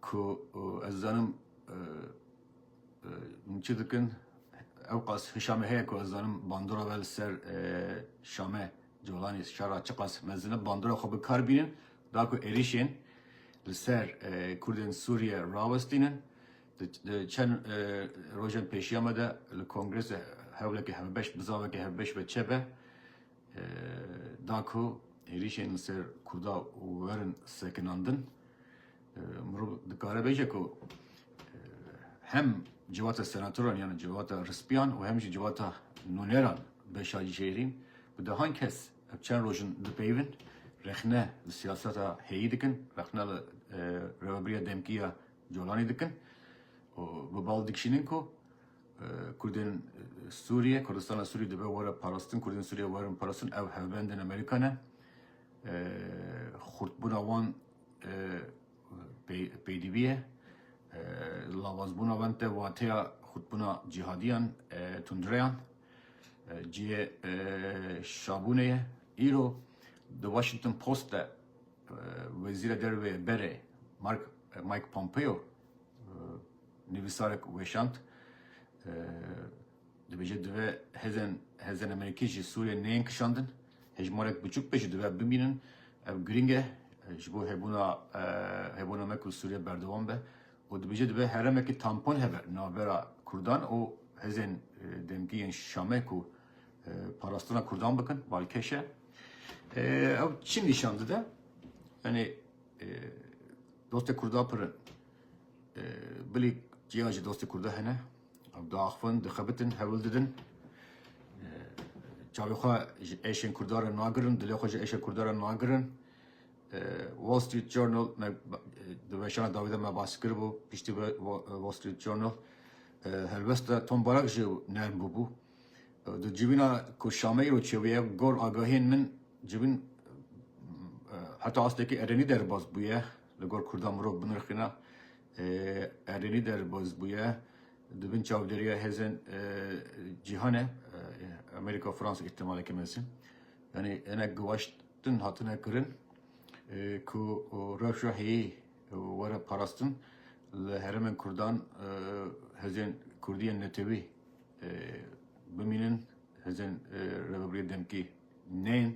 Ku ez dizanim hûn çi dikin, ewqas hişa me heye ku ez dizanim bandora me li ser Şame, Colanê, Şara çiqas mezin e, bandora xwe bi kar bînin, da ku êrîşên li ser Kurdên Sûriye rawestînin. Di çend rojên pêşiya me de li kongresa hewleke hevbeş, bizaveke hevbeş ve çêbe. da ku êrîşên li ser Kurda werin sekinandin, mirov dikare bêje ku hem civata senatoran yan civata rispiyan û hem jî civata nûneran beşa jêrîn bi dehan kes ev çend roj in dipeyivin, rexne li siyaseta heyî dikin, rexne li Rêveberiya Demkî ya Colanê dikin û bi bal dikişînin ku Kurdên Sûriyê, Kurdistana Sûriyê dibe were parastin, Kurdên Sûriyê werin parastin, ev hevbendên Amerîka ne. Xurtbûna wan peydivî ye. Lavazbûna wan te wateya xurtbûna cîhadiyan, tundireyan. Cihê şabûnê ye. Îro di Washington Post de Wezîra Derve berê Mike Pompeo, Nivîsarek weşand, dibêje divê hêzên hêzên Amerîkî ji Sûriyê neyên kişandin, hejmarek biçûk be jî divê bimînin. Ev girîng e ji bo hebûna hebûna me ku Sûriye berdewam be û dibêje divê herêmekî tampon hebe navbera Kurdan û hêzên demkî yên Şamê ku parastina Kurdan bikin, balkêş e. Ew çi nîşan dide? Yanî Dostê Kurda pir in. Bilî çiyan jî dostê Kurda hene. Ew diaxivin, dixebitin, hewil didin. Çavê xwe ji êşên Kurda re nagirin, dilê xwe ji êşên Kurda re nagirin. Wall Street Journal me di weşana dawî de me bas kiribû, piştî Wall Street Journal helwesta Tom Barak jî nerm bûbû. Do civîna ku şameyê û çewiye gor agahiyên min civîn heta astekî erênî derbas bûye. Li gor kurdan mirov binirxîna erênî derbas bûye. Di bin çavdêriya hêzên cîhanê Amerîka, Fransa îhtimaleke mezin yanî hinek giwaştin hatine kirin ku rewşa heyî were parastin li herêmên kurdan hêzên kurdiyên netewî Bimînin hêzên Rêveberiyê Demkî neyên.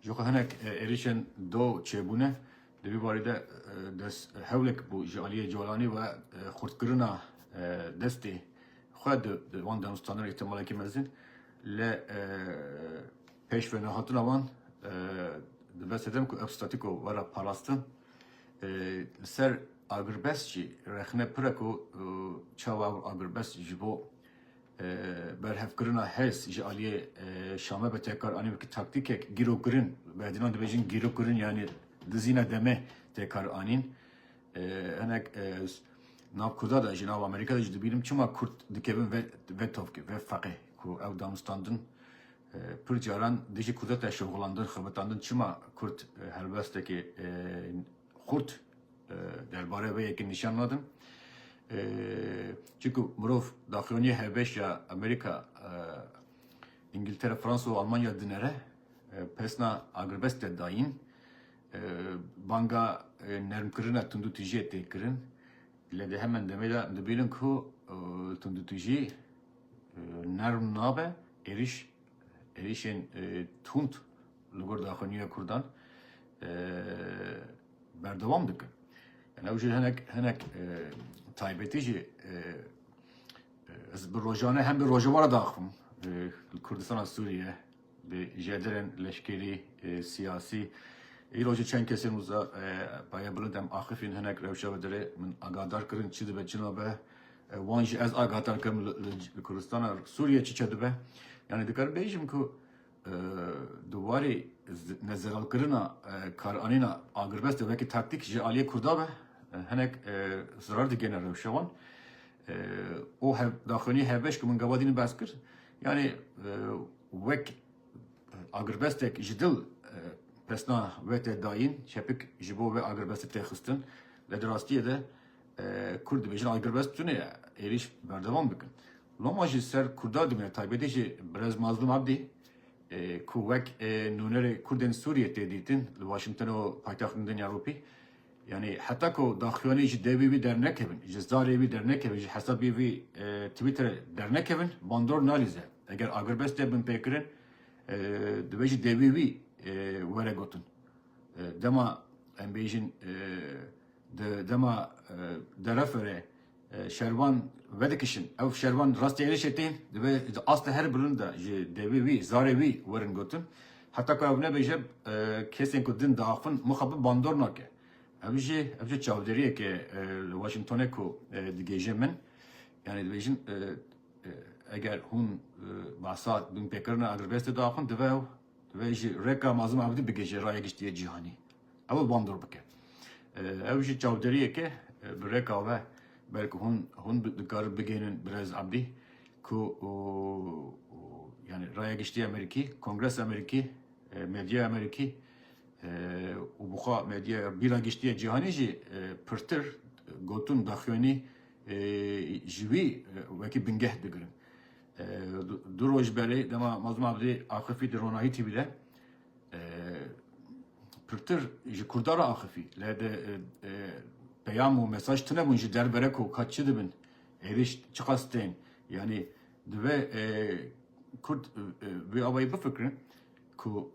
Ji xwe hinek êrîşên do çêbûne. Di vî barî de dest hewlek bû ji aliyê Colanî ve xurtkirina destê xwe di van danostanan îhtimalekî mezin li pêş ve nehatina wan dibe sedem ku ev statîko were parastin. Li ser agirbest jî rexne pir e ku çawa ew agirbest ji bo berhevkirina hêz ji aliyê Şamê bi tekar anî wekî taktîkek gîrokirîn, berdînan dibêjin gîrokirîn yanî dizîna demê tekar anîn. Hinek ez nav Kurda de jî nav Amerîka de jî dibînim çima Kurd dikevin ve tovkê, ve feqê ku ew damistandin Pir caran dijî kurda teşeûxulandin, xebitandin çima kurd helwestekê xurt derbarê vê yekê nîşan nadin. Çunku mirov daxuyanî Hebêş ya Amerîka, Îngiltere, Fransa û Almanya dinere pesna agirbest de dayîn. Banga nermkirina tundûtijiyê tê kirin. Lê di heman demê de dibînin ku tundûtijî, Nerm nabe êrîş, êrîşên tund li gor daxuyaniyê Kurdan berdewam dikin. Yani ew jî hinek hinek taybetî jî ez bi rojane hem bi rojevara daxim li Kurdistana Sûriye Bi jedirên leşkerî, siyasî îro jî çend kesên wisa paya bilind em axifîn hinek rewşa ve dire min agadar kirin çi dibe çi nabe wan jî ez agadar kirim li Kurdistana Sûriyê çi çe dibe yanî dikarim bêjim ku di warê nezelalkirina karanîna agirbest de wekî taktîk ji aliyê Kurda ve hinek zirar digihêne rewşa wan û hevdaxwînî hevbeş ku min gava dîn behs kir Yanî wek agirbestek ji dil pesna we tê dayîn, çepik ji bo vê agirbestê tê xistin. Lê di rastiyê de Kurd dibêjin agirbest tune ye, êrîş berdewam bikin. Loma ji ser Kurda dimîne taybetî jî Birêz Mazlûm Abdî ku wek nûnerê Kurdên Sûriyê tê dîtin li Washington û paytextên Dinya Ewropî, Yanî heta ku daxuyanî ji devê wî dernekevin, ji zarê wî dernekevin, ji hesabê wî Twitterê dernekevin bandor nalîze. Eger agirbest tê binpêkirin divê ji devê wî were gotin. Dema em bêjin di dema dereferê Şervan vedikişin. Ew şervan rastî êrişê tên, divê di asta her bilind de ji devê wî, zarê wî werin gotin. Heta ku ew nebêje kesên ku din diaxivin muxa bi bandor nake. Ev jî ev jî çavdêriyeke li Washingtonê ku digêje min. Yani dibêjin eger hûn behsa binpêkirina agrbestê diaxivin divê ew Divê ji rêka Mazlum Abdî bigihîje raya giştîyê cîhanî. Ew ê wan dûr bike. Ew jî çavdêriyek e bi rêka ve belkî hûn hûn dikarin bigihînin Birêz Abdî ku yani raya giştî Amerîkî, Kongres Amerîkî, medyaya Amerîkî û bi xwe medyaya bîra giştîyê cîhanî jî pirtir gotin daxuyanî ji wî wekî bingeh digirin. Du roj berê dema mazluma bi dê axifî di ronahî tî bide pirtir ji Kurda ra axifî le de peyam û mesaj tine bûn ji derbere ku ka çi dibin êrîş çiqas tên yanî dibe Kurd vê awayî bifikirin ku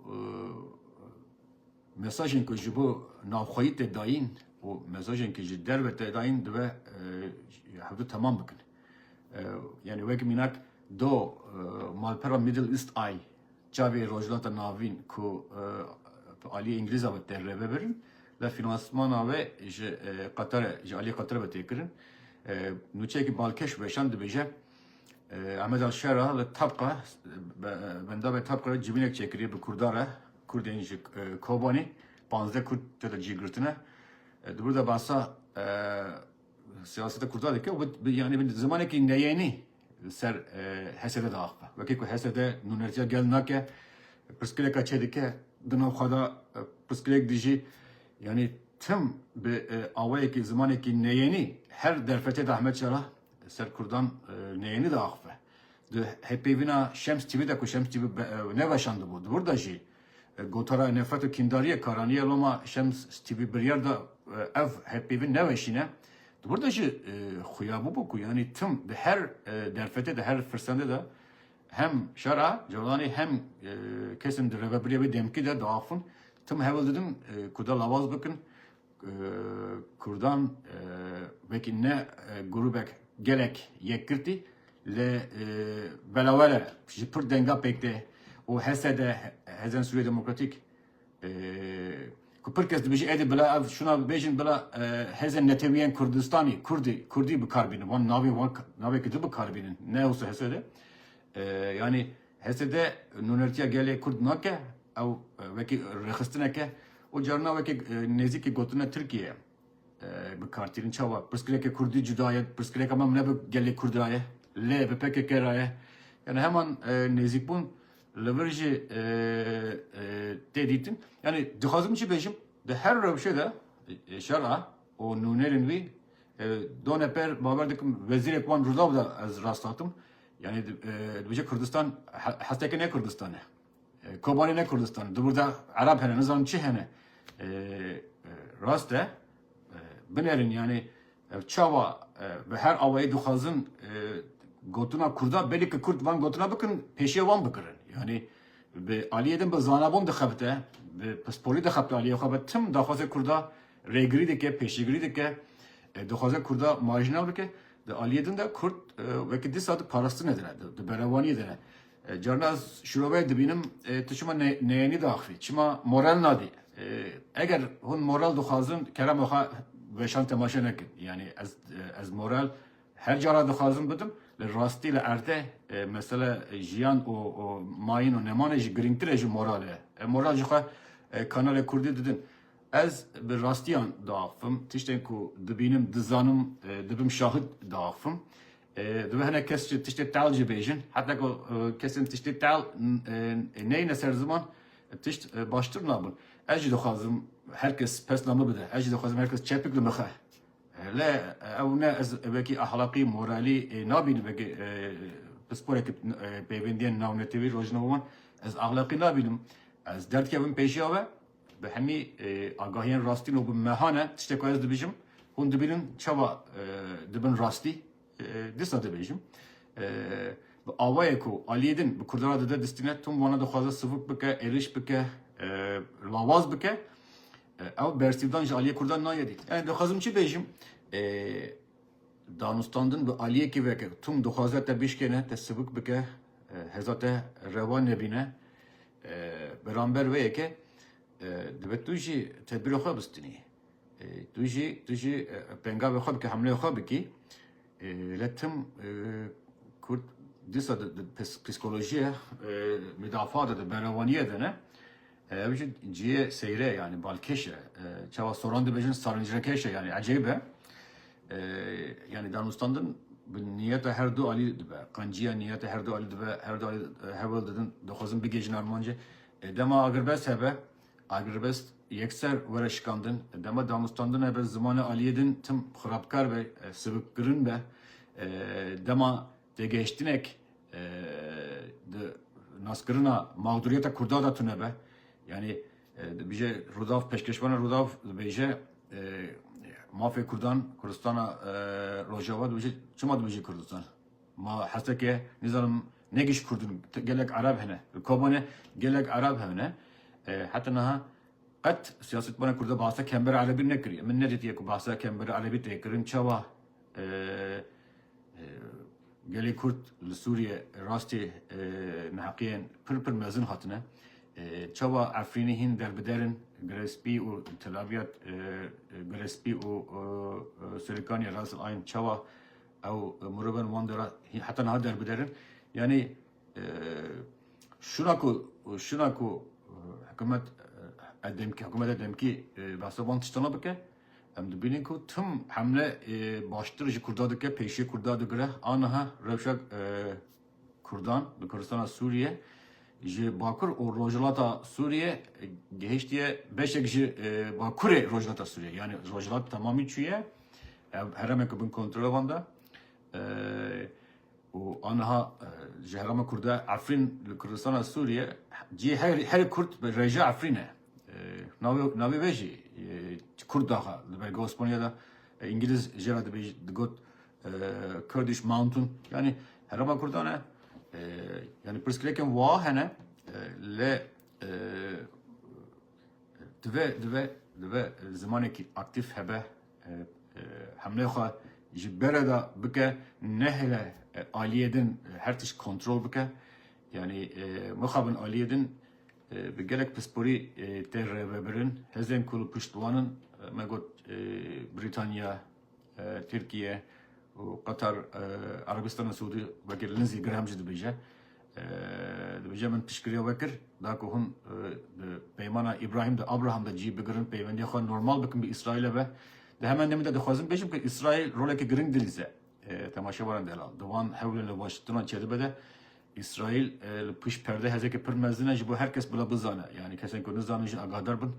Mesajên ku ji bo navxweyî tê dayîn û mesajên ku ji derve tê dayîn dibe hev du temam bikin. Yanî wek mînak do malpera Middle East Eye, Çavê Rojhilata Navîn ku bi aliyê Îngilîza ve tê rêvebirin ve fînansmana wê ji Qetare, ji aliyê Qetare ve tê kirin. Nûçeyekî balkêş weşand dibêje, Ahmed al-Shera li Tabqa, bendavên Tabqa re civînek çêkiriye bi Kurdan re Kurdên ji Kobanê pazdeh kurd têde cîgirtine. Di wir de behsa siyaseta kurda dike û bi yanî bi zimanekî neyênî li ser HSD de axe. Wekî ku HSD nûnertiya gel nake, pirsgirêka çê dike, di nav xwe de pirsgirêk dijî. Yanî tim bi awayekî zimanekî neyênî her derfetê de Ehmed Şera li ser kurdan neyênî diaxife. Di hêvpeyvîna Şems TV de ku Şems TV neveşandibû di wir de jî gotara nefret û kîndariyê karaniye loma Şems TV biryar da ev hêvpeyvîn neweşîne. Di wir de jî xuya bûbû ku yanî tim di her derfetê de her firsendê de hem şera Colanî hem kesên di rêvebiriyê wê demkî de diaxivin tim hewil didin ku de lawaz bikin Kurdan wekî ne grûbek gelek yekgirtî li belawere ji pirr denga pêk tê û HSD, Hêzên Sûriyê Demokratîk, ku pirr kes dibêje êdî bila ev şûna bibêjin bila hêzên netewîyên Kurdistanî, kurdî, kurdî bikar bînin, wan navên wan navên kurdî bikar bînin, ne wisa HSD. Yanî. HSD nûnertiya gelê Kurd nake, ew wekî rêxistinek e û carina wekî nêzîkî gotina Tirkiyê ye bi kar tînin. Çawa? Pirsgirêkê Kurdî cuda ye, pirsgirêka me ne bi gelê Kurd re ye, lê bi pkk re ye. Yanî heman nêzîkbûn li vir jî tê dîtin. Yanî dixwazim çi bêjim? Di her rewşê de şer a û nûnerên wî done pêr, bawer dikim wezîrek wan Rûdaw de ez rasthatim, Yani dibêje Kurdistan hesteke ne Kurdistan e. Kobanê ne Kurdistan e. Dibûrda Erab hene, nizanim çi hene. Rast e. Binerin yani ev çawa bi her awayê dixwazin gotina Kurda belê ki Kurd van gotina bikin pêşiya wan bikirin. Yani bi aliyê din bi zanabûn dixebite, bi pispolî dixebite aliyê xwe be tim daxwazê Kurda rêgirî dike, pêşîgirî dike, dixwaze Kurda marjinal bike. Di aliyê din de Kurd wekî dîsa di parastinê de ne, di berevaniyê de ne. Carna ez şiroveyê dibînim tu çima neyenî diaxivî, çima moral nadî. Eger hûn moral dixwazin kerema xwe weşan temaşe nekin. Yanî ez ez moral her cara dixwazim bidim. Li rastî li erde mesela jiyan û mayîn û nemanê jî girîngtir e ji moral e. Moral jixwe kanalê Kurdî didin. Ez bi rastiyan diaxivim, tiştên ku dibînim, dizanim, dibim şahid diaxivim. Divê hinek kes ji tiştê teal jî bêjin. Heta ku kesên tiştê teal neyne ser ziman, tişt baştir nabin. Ez jî dixwazim her kes pesna min bide. Ez jî dixwazim her kes çepik li min xe. Lê ew ne ez wekî ahlaqî, moralî nabînim wekî pisporekî pêvendiyên navnetewî rojnamewan. Ez ahlaqî nabînim. Ez derdikevim pêşiya we. Bi hemî agahiyên rastîn û bi meha ne, tiştê ku ez dibêjim, hûn dibînin çawa dibin rastî, dîsa dibêjim. Bi awayê ku aliyê din bi Kurdan re dide distîne, tom wana dixwaze sivik bike, êrîş bike, lawaz bike, ew bersîvdan ji aliyê Kurdan nayê dît. Yanî dixwazim çi bêjim? Danûstandin bi aliyekî veke tom dixwaze te bişkêne, te sivik bike, hêza te rewa nebîne. Beramber wê yekê divê tu jî tedbîrê xwe bistinî. Tu jî tu jî pengavê xwe bikî, hemleyê xwe bikî. Lê tim Kurd dîsa di psîkolojiyê mudafaa de, di berewaniyê de ne. Ew jî cihê seyre ye yanî balkêş e. Çawa soran dibêjin sarincrekêş e yanî ecêb e. Yanî danûstandin bi niyeta her du alî dibe. Qenciya niyeta her du alî dibe, her du alî heval didin, dixwazin bigihîjin armancê. Dema agirbest hebe, agirbest yekser were şikandin. Dema danûstandin hebe zimanê aliyê din tim xirabkar be, sibikkirin be. Dema têgehiştinek di naskirina mexdûriyeta Kurda de tune be. Yanî Dibêje Rûdaw Pêşkêşvanê Rûdaw dibêje mafê Kurdan Kurdistana Rojava dibêje çima dibêje Kurdistan? Ma hesteke nizanim ne giş Kurdin gelek Arab hene. Li Kobanê gelek Arab hene. Heta niha qet siyasetmana Kurda bahsa kembera Erebî nekiriye. Min nedîtiye ku bahsa kembera Erebî tê kirin. Çawa Gelê Kurd li Sûriye rastê neheqiyên pir pir mezin hatine. Çawa Efrînê hîn derbider in, Girespî û Telabyad, Girespî û Serikaniye Ras El Ayn çawa ew mirovan wan dera heta niha derbider in. Yanî şuna ku şuna ku hikûmet hikûmeta demkî behsa wan tiştana bike, Em dibînin ku tim hemle baştir ji Kurda dike, pêşiyê Kurda digire. Aniha rewşa Kurdan li Kurdistana Sûriye ji Bakur û Rojhilata Sûriye gihiştiye beşek ji Bakurê Rojhilata Sûriye. Yani Rojhilat tamamî çûye. Ev heremeke bin kontrola van de. û aniha ji herema Kurda Efrîn li Kurdistana Sûriye cihê herê Kurd bi rêja Efrîn e. Navê wê jî kurd daxa li belge Osmaniye de. Îngiliz jê re digot Kurdish Mountain. Yanî herêma kurdan e. Yanî pirsgirêkên wiha hene lê divê divê divê zimanekî aktîf hebe hemlê xwe ji bere de bike nehêle aliyê din her tişt kontrol bike. Yanî mixabin aliyê din Bi gelek pisporî tên rêvebirin. Hêzên ku li pişt wan in me got Brîtanya, Tirkiye û Qatar, Erebistana Siûdî wekî Lindsey Graham jî dibêje. Dibêje min piştgiriya we kir da ku hûn di peymana Îbrahîm de, Abraham de cî bigirin, peywendiya xwe normal bikin bi Îsraîlê ve. Di heman demê de dixwazim bêjim ku Îsraîl roleke giring dilîze temaşevaran delal di wan hewlên li Washingtonan çêdibe de. Îsraîl li pişt perde hêzeke pir mezin e ji bo her kes bila bizane. Yanî kesên ku nizanin jî agadar bin.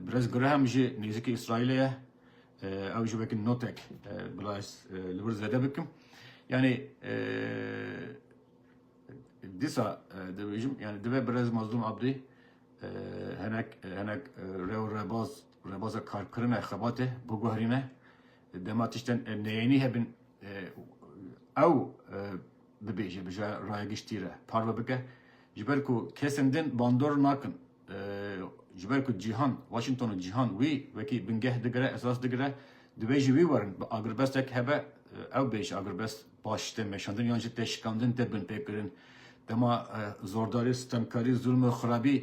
Birêz Graham jî nêzîkî Îsraîlê ye. Ew jî wekî notek bila ez li wir zêde bikim. Yanî dîsa dibêjim yani dibe birêz Mazlûm Abdî henek henek rê û rebaz rebaza karkirine xebatê biguherîne. Dema tiştên neyênî hebin ew dibêje bije raya giştî re parve bike ji ber ku kesên din bandor nakin ji ber ku cîhan Washington û cîhan wî wekî bingeh digire esas digire divê ji wî werin bi agirbestek hebe ew bê ji agirbest baş tê meşandin yan jî têşikandin tê binpêkirin dema zordarî stemkarî zulm û xirabî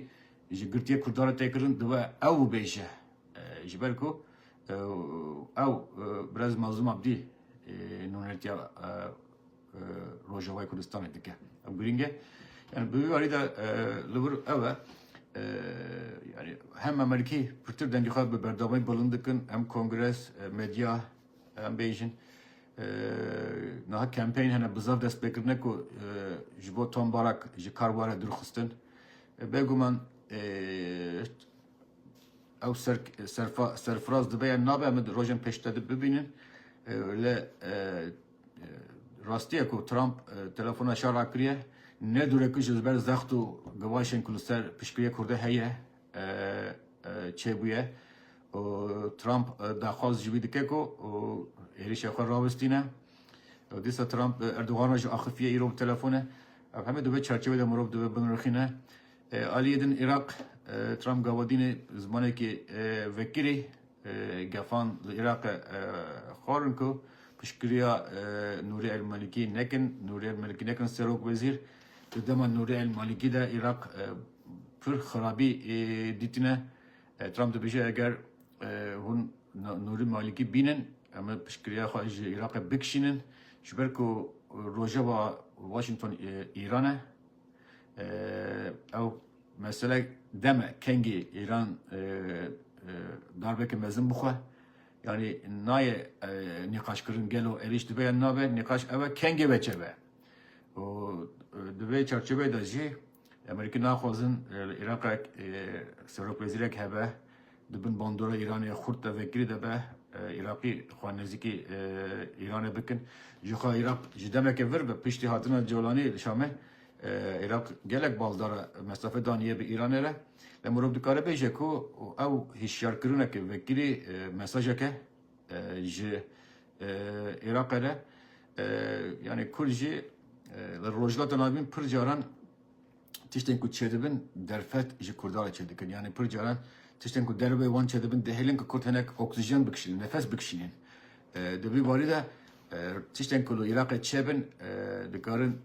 ji girtiyê kurdan re tê kirin dibe ew bêje ji ber ku ew birez Mazlum Abdî nûnertiya Rojavayê Kurdistanê dike. Ew girîng e. Yani bi vî warî de li vir ew e yani hem Amerîkî pirtir dengê xwe bi berdawayî bilind dikin hem kongres, medya em bêjin niha kampeyên hene bi zaf dest pê kirine ku ji bo Tom Barak ji kar were dûrxistin. Bêguman ew ser serfa serfiraz dibe yan nabe em rojên pêşte de bibînin. Lê Rastiye ku Trump telefona şa rakiriye, ne dûre ku ji ber zext û givaşên ku li ser piştgiriyê Kurdê heye çêbûye û Trump daxwaz ji wî dike ku êrişa xwe rawestîne. Dîsa Trump Erdogan re jî axifiye îro bi telefone. Ev hemû di vê çarçevê de mirov divê binirxîne. Aliyê din Iraq, Trump Gavadînê zimanekê vekirî gefan li Iraqê xwarin ku piştgiriya Nûrî El Malikî nekin. Nûrî El Malikî nekin serok wezîr. Di dema Nûrî El Malikî de Iraq pir xirabî dîtine. Trump dibêje eger hûn Nûrî Malikî bînin em ê piştgiriya xwe ji Iraqê bikişînin. Ji ber ku rojeva Washington Îran e. ew meselek deme kengê Îran darbeke mezin bixwe yanî nayê nîqaşkirin gelo êrîş dibe yan nabe nîqaş ew e kengê ve çebe û di vê çarçoveyê de jî Amerîkî naxwazin Îraqek serokwezîrek hebe Di bin bandora Îranê xurt de vekirî de be Îraqî xwe nêzîkî Îranê bikin. Jixwe Îraq ji demeke vir be piştî hatina Colanî li Şamê Îraq gelek baldara mesafê daniye bi Îranê re. Lê mirov dikare bêje ku ew hişyarkirineke vekirî mesajeke ji Îraqê re yanî kur jî li Rojhilata Navîn pir caran tiştên ku çêdibin derfet ji Kurdan re çêdikin. Yanî pir caran tiştên ku derve wan çêdibin dihêlin ku Kurd hinek oksijen bikişînin, nefes bikişînin. Di vî barî de tiştên ku li Iraqê çêbin dikarin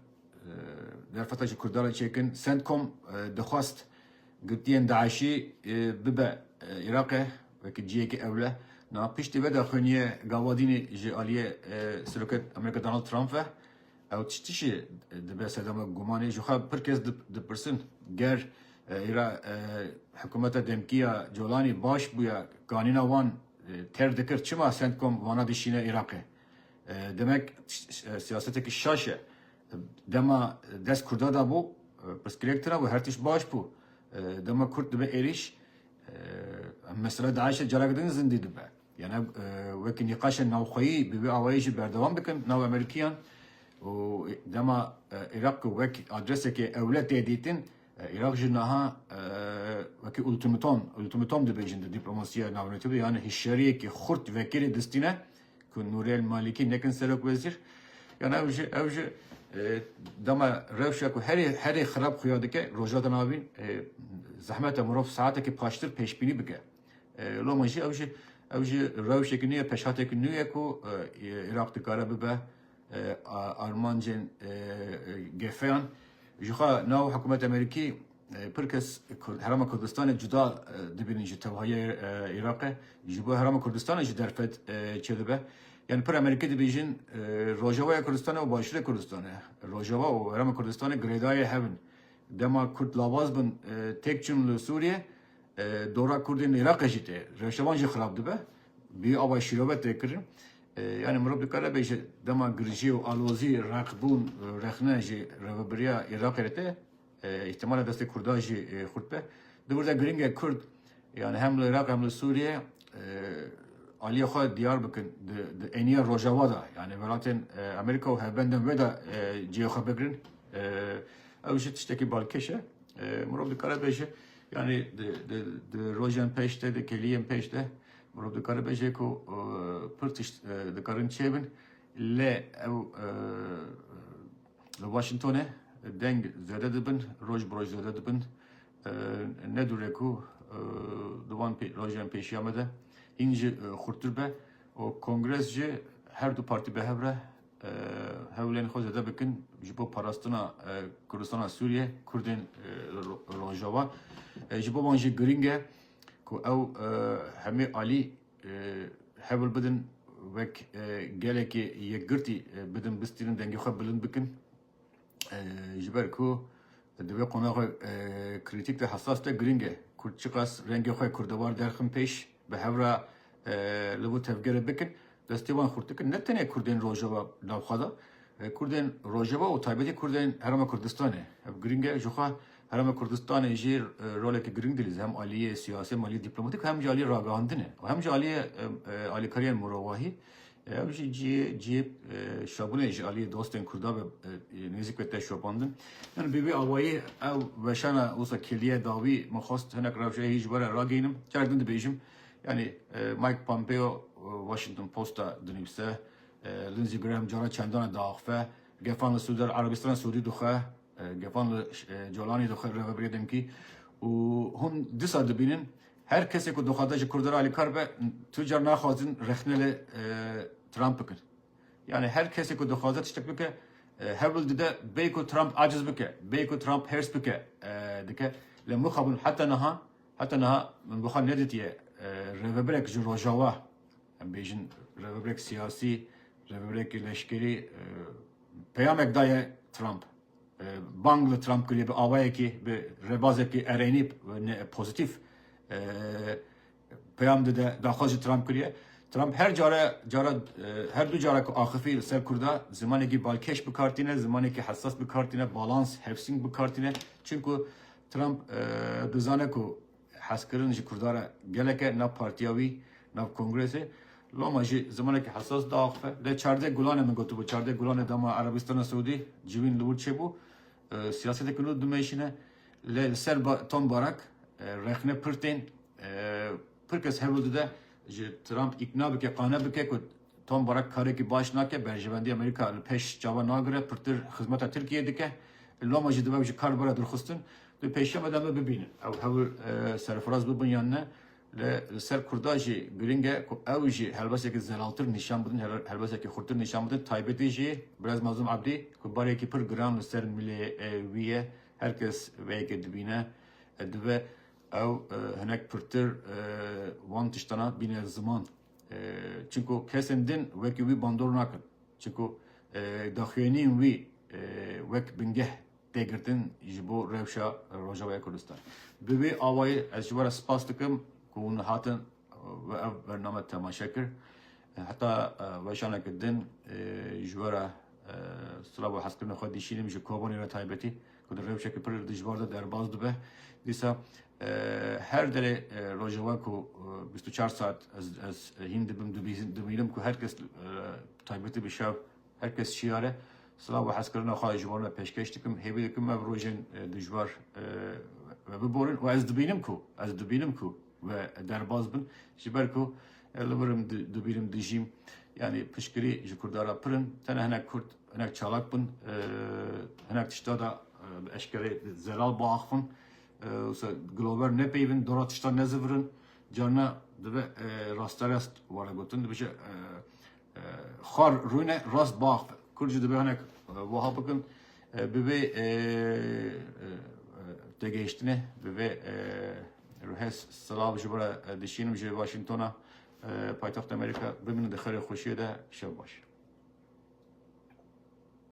derfeta ji Kurdan re çêkin. Sentkom dixwast girtiyên DAIŞî bibe Iraqê wekî ciyekî ewle. Na piştî ve de xwêniye gavadînê ji aliyê Serokê Amerîka Donald Trump ve. Ew tiştî dibe sedema gumanê. Ji xwe pir kes dipirsin ger îra hikumeta demkî ya Colanî baş bûya kanîna wan tev dikir çima Centcom vana dişîne Îraqê. Demek siyasetekî şaş e. Dema dest Kurda da bû pirsgirêk tira bû her tişt baş bû. Dema Kurd dibe êrîş mesela DAIŞ'ê careke din zindî dibe. Yane wekî nîqaşên navxweyî bi vê awayî jî berdewam dikin nav Amerîkiyan û dema Iraq wek adresekê ewle tê dîtin, Iraq jî niha wekî ultimatom ultimatom dibêjin di dîplomasiya navnetî de yani hişyariyekî xurt vekirî distîne ku Nuriyel Malîkî nekin serokwezîr. Yan ew jî ew jî dema rewşa ku herê herê xirab xuya dike Rojhilata Navîn zehmet e mirov saetekî paştir pêşbînî bike. Loma jî ew jî ew jî rewşek nûye, peşhatek nûye ku Iraq dikare bibe armancên gefeyan. Jixwe nav hikûmet Amerîkî pir kes Herêma Kurdistanê cuda dibînin ji tevahiyê Iraqê. Ji bo Herêma Kurdistanê jî derfet çêdibe. Yani pir Amerîkî dibêjin Rojavaya Kurdistanê û Başûrê Kurdistanê. Rojava û Herêma Kurdistanê girêdayê hev in. Dema Kurd lawaz bin têk çûn li Sûriyê, Dora Kurdên Iraqê jî tê. Rewşevan jî xirab dibe. Bi ava şîrove tê kirin. Yani mirov dikare bêje dema girjî û alozî reqbûn rexne ji rêvebiriya Iraqê re tê. Îhtimale destê Kurdan jî xurt be. Di wir de giring e Kurd yani hem li Iraq hem li Sûriyê aliyê xwe diyar bikin di êniya rojava de. Yani welatên Amerîka û hevbendên wê de cihê xwe bigirin. Ew jî tiştekî balkêş e. Mirov dikare bêje Yanî di rojên pêş de, di kiliyên pêş de mirov dikare bêje ku pir tişt dikarin çêbin lê ew li Washingtonê deng zêde dibin, roj bi roj zêde dibin. Ne dûre ku di van rojên pêşiya me de hîn jî xurtir be û kongres jî her du partî bi hev re hewlên xwe zêde bikin ji bo parastina Kurdistana Sûriye, Kurdên Rojava. Ji bo wan jî girîng e ku ew hemê alî hewl bidin wek gelekê yekgirtî bidin bistînin dengê xwe bilind bikin. ji ber ku di vê qonaxê krîtîk de hesas de girîng e Kurd çiqas rengê xwe kurdewar derxin pêş bi hev re li bo tevgerê bikin destê wan xurt dikin ne tenê Kurdên Rojava navxwe de Kurdên Rojava û taybetî Kurdên Herêma Kurdistanê ev girîng e jixwe Herêma Kurdistanê jî rolekî girîng dilîze hem aliyê siyasî hem aliyê dîplomatîk hem jî aliyê ragihandinê û hem jî aliyê alîkariyên mirovahî Ev jî cihê cihê şabûnê ji aliyê dostên Kurda be nêzik be te şopandin. Yani bi vê awayê ew veşana wisa kiliye dawî min xwest hinek rewşe hî ji we re ragihînim. Carek din dibêjim yani Mike Pompeo Washington Posta dinivîse, Lindsey Graham cariya çendana diaxife, gefan li Sûder Erebistana Sûdî dixwe, Gefan li Colanê dixwe rêvebirê demkî û hûn disa dibînin her kesê ku dixwaze ji Kurd re alîkar be tu car naxwazin rexne li Trump bikin. Yanî her kesê ku dixwaze tiştek bike hewl dide bê ku Trump aciz bike, bê ku Trump hêrs bike dike. Lê mixabin heta niha heta niha min bi xwe nedîtiye rêveberek ji Rojawa, Em bêjin rêveberek siyasî, rêveberekî leşkerî peyamek daye Trump. Bang li Trump kiriye bi awayekî, bi rêbazekî erênî pozîtîf peyam dide, daxwaz ji Trump kiriye. Trump her cara cara her du cara ku axifî li ser Kurda zimanekî balkêş bi kar tîne, zimanekî hesas bi kar tîne, balans, hevsîn bi kar tîne. Çimku Trump dizane ku Hezkirin ji Kurdan re geleke nav partiya wî, nav kongresê. Loma jî zimanekî hesas diaxife. Lê çardeh gulanê min gotibû, çardeh gulanê dema Erebistana Siûdî civîn li wir çêbû. Siyaseteke nû dimeşîne. Lê li ser Tom Barak rexne pir tên. Pir kes hewl dide ji Trump îkna bike, qane bike ku Tom Barak karekî baş nake, berjevendî Amerîka li pêş çavan nagire, pirtir xizmeta Tirkiyeyê dike. Loma jî dibe ew ji kar bibire dirxistin. Di pêşema de em ê bibînin ew hewl serfiraz bibin yan ne. Lê li ser Kurda jî girîng e ku ew jî helbesekî zelaltir nîşan bidin, helbesekî xurtir nîşan bidin. Taybetî jî Birêz Mazlûm Ebdî ku barekî pir giran li ser milê wî ye. Her kes vê yekê dibîne divê ew hinek pirtir wan tiştana bîne ziman. Çimku kesên din wekî wî bandor nakin. Çimku daxuyaniyên wî wek bingeh tê girtin ji bo rewşa Rojavaya Kurdistan. Bi vê awayê ez ji we re spas dikim ku hûn hatin we ev bername temaşe kir. Heta weşaneke din ji we re silav û hezkirina xwe dişînim ji Kobanê re taybetî. ku di rewşeke pir dijwar de derbas dibe. Dîsa her derê rojeva ku bîst û çar saet ez hîn dibim dimînim ku her kes taybetî bi şev her kes şiyar e. Silav û hezkirina xwe ji wan ve pêşkêş dikim. Hêvî dikim ev rojên dijwar biborin û ez dibînim ku ez dibînim ku Ve derbas bin ji ber ku li wir im dibîr im dijîm yanî piştgirî ji Kurda re pir in. Tenê hinek Kurd hinek çalak bin hinek tişta de bi eşkereyê zelal biaxivin. Wisa gilover nepeyivin dora tişta nezivirin. Carina dibe rasterest were gotin dibêje xwar rûne rast biaxive. Kurd jî dibe hinek wiha bikin bi vê tegihiştine bi vê Ruhes silav ji bo re dişînim ji Washingtona paytexta Amerîka. Bimînin di xêrê xweşiyê de. Şev baş.